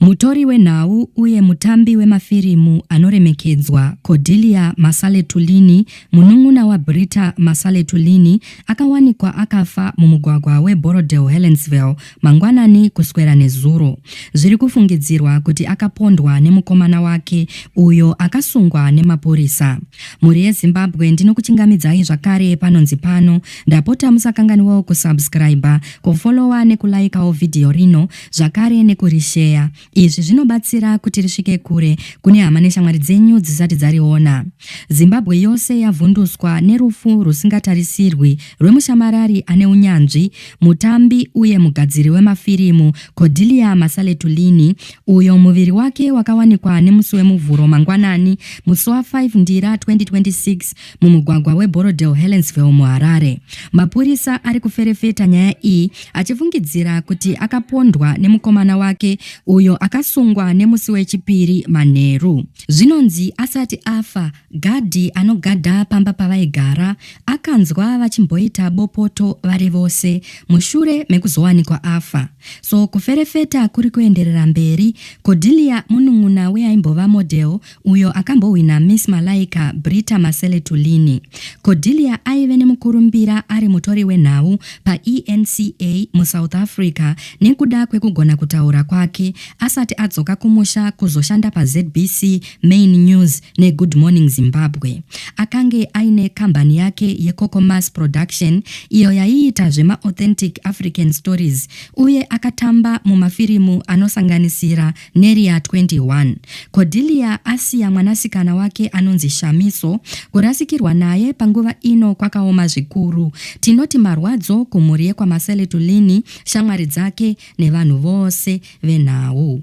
Mutori wenhau uye mutambi wemafirimu anoremekedzwa, Cordelia Masale-Tulini, munun'una waBritta Masale-Tulini, akawanikwa akafa mumugwagwa weBorrowdale-Helensville mangwanani kuswera nezuro. Zviri kufungidzirwa kuti akapondwa nemukomana wake, uyo akasungwa nemapurisa. Mhuri yeZimbabwe ndinokuchingamidzai zvakare panonzi pano. Ndapota musakanganwewo kusubscriber, kufollower nekulaikawo vhidhiyo rino zvakare nekurisheya. Izvi zvinobatsira kuti risvike kure kune hama neshamwari dzenyu dzisati dzariona. Zimbabwe yose yavhunduswa nerufu rwusingatarisirwi rwemushamarari ane unyanzvi, mutambi uye mugadziri wemafirimu Cordelia Masaletulini, uyo muviri wake wakawanikwa nemusi weMuvhuro mangwanani, musi wa 5 Ndira 2026, mumugwagwa weBorrowdale Helensville muHarare. Mapurisa ari kuferefeta nyaya iyi achifungidzira kuti akapondwa nemukomana wake uyo akasungwa nemusi wechipiri manheru. Zvinonzi asati afa, gadhi anogadha pamba pavaigara akanzwa vachimboita bopoto vari vose mushure mekuzowanikwa afa. So kuferefeta kuri kuenderera mberi, Cordelia munun'una weaimbova model uyo akambohwina Miss Malaika Brita Masele Tulini. Cordelia aive nemukurumbira ari mutori wenhau paENCA muSouth Africa nekuda kwekugona kutaura kwake asati adzoka kumusha kuzoshanda paZBC Main News neGood Morning Zimbabwe. Akange aine kambani yake yeCocomas Production iyo yaiita zvemaauthentic African stories uye akatamba mumafirimu anosanganisira Neria 21. Cordelia asiya mwanasikana wake anonzi Shamiso, kurasikirwa naye panguva ino kwakaoma zvikuru. Tinoti marwadzo kumhuri yekwaMasele Tulini, shamwari dzake nevanhu vose venhau.